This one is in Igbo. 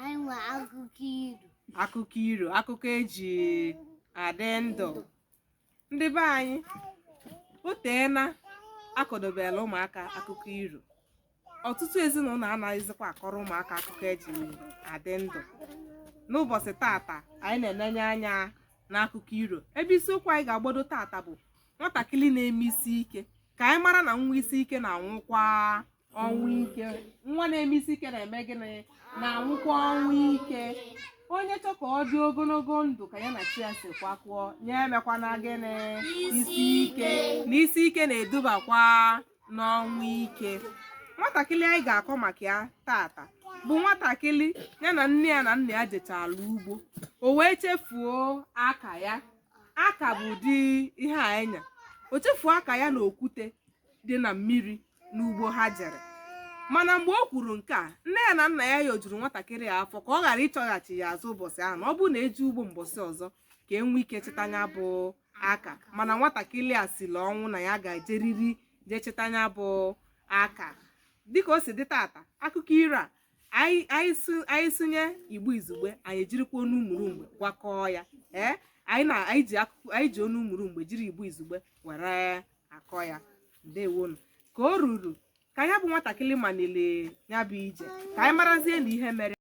anyị nwere akụkọ iro akụkọ iro akụkọ eji adị ndụ ndị be anyị o teena akọdobela ụmụaka akụkọ iro ọtụtụ ezinụlọ anaghịzikwa akọrọ ụmụaka akụkọ eji adị ndụ n'ụbọchị tata anyị na-enenye anya n'akụkọ iro ebe isiokwu anyị ga-agbado tata bụ nwatakịrị na-eme isi ike ka anyị mara na nwa isi ike na-anwụkwa ọnwụ ike nwa na-eme isi ike na-eme gịnị na-anwụkwa ọnwụ ike onye chọ ka ọ dị ogologo ndụ ka ya na chi ya si kwekọọ nya emekwana gịnị isi ike na isi ike na-edubakwa n'ọnwụ ike nwatakịrị anyị ga-akọ maka ya tata bụ nwatakịrị ya na nne ya na nna ya jechala ugbo o wee chefuo aka ya aka bụ ụdị ihe anya o chefuo aka ya na okwute dị na mmiri n'ugbo ha jere mana mgbe o kwuru nke a nne ya na nna ya yọjuru nwatakịrị ya afọ ka ọ ghara ịchọghachi ya azụ ụbọchị ahụ na ọ bụrụ na e je ugbo mbọsị ọzọ ka e nwee ike chịta ya bụ aka mana nwatakịrị a siri ọnwụ na ya ga-ejeriri jee chịta ya bụ aka dịka o si dị tata akụkọ iro a anyị anyị sụ- anyị sụnye igbo izugbe anyị ejirikwa onu umulumgbe gwakọọ ya ee anyị na anyị ji akụkọ anyị ji onu umulumgbe jiri igbo izugbe were akọ ya ndewonu ka o ruru ka ya bụ nwatakịrị maliri ya bụ ije ka anyị marazie na ihe mere